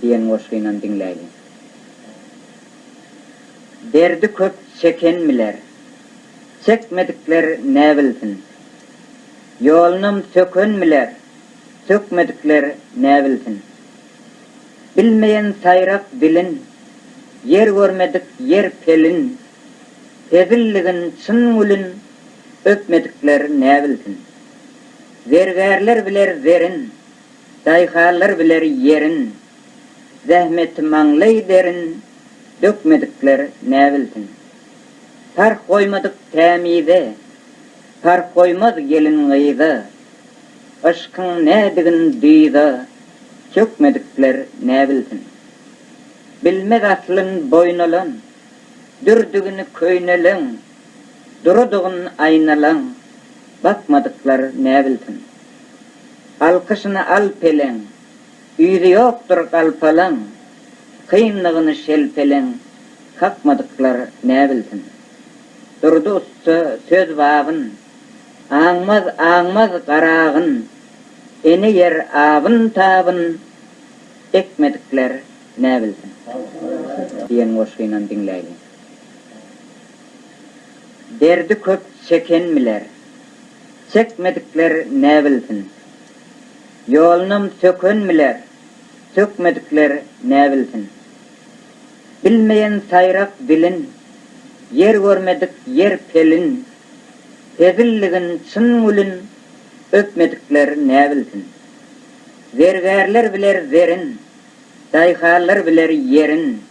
Diýen goşgynam diňläýliň. Derdi köp çeken biler. Çekmedikler ne bilsin. Ýolunam söken biler. Sökmedikler ne bilsin. Bilmeýen saýrak dilin. Ýer görmedik ýer pelin. Hezilligin çyn gülin. Öpmedikler ne bilsin. Zergärler biler zerin. Daýhanlar biler ýerin. Zähmeti maňlaý derin, Dökmedikler näbilsin. Parh goýmadyk tämize, Parh goýmaz gelin-gyza, Yşkyň nädigin dyza, Çökmedikler näbilsin. Bilmez aslyn boýun alan, Dürdigin köýneleň, Duradygyn aýnalaň, Bakmadyklar näbilsin. Alkyşyny al peleň, Ýüzi ýokdur galpalaň, Kynlygyny şelpeleň, Kakmadyklar ne bilsin. Durdy ussa söz babyn, Aňmaz, aňmaz garagyn, Ene ýer abyn, tabyn, Ekmedikler ne bilsin. Diýen goşgynam diňläýliň. Derdi köp çeken biler. Çekmedikler näbilsin. Ýolunam söken biler, sökmedikler näbilsin. Bilmeýän saýrak dilin, ýer görmedik ýer pelin, hezilligin çyn gülin, öpmedikler näbilsin. Zergärler biler zerin, daýhanlar biler ýerin,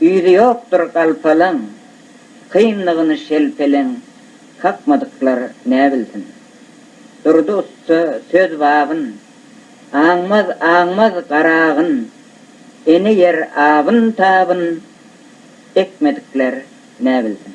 Yzy ýokdur galpalaň, Kynlygyny şelpeleň Kakmadyklar ne bilsin. Durdy ussa söz babyn, Aňmaz, aňmaz garagyn, Ene ýer abyn-tabyn Ekmedikler ne bilsin.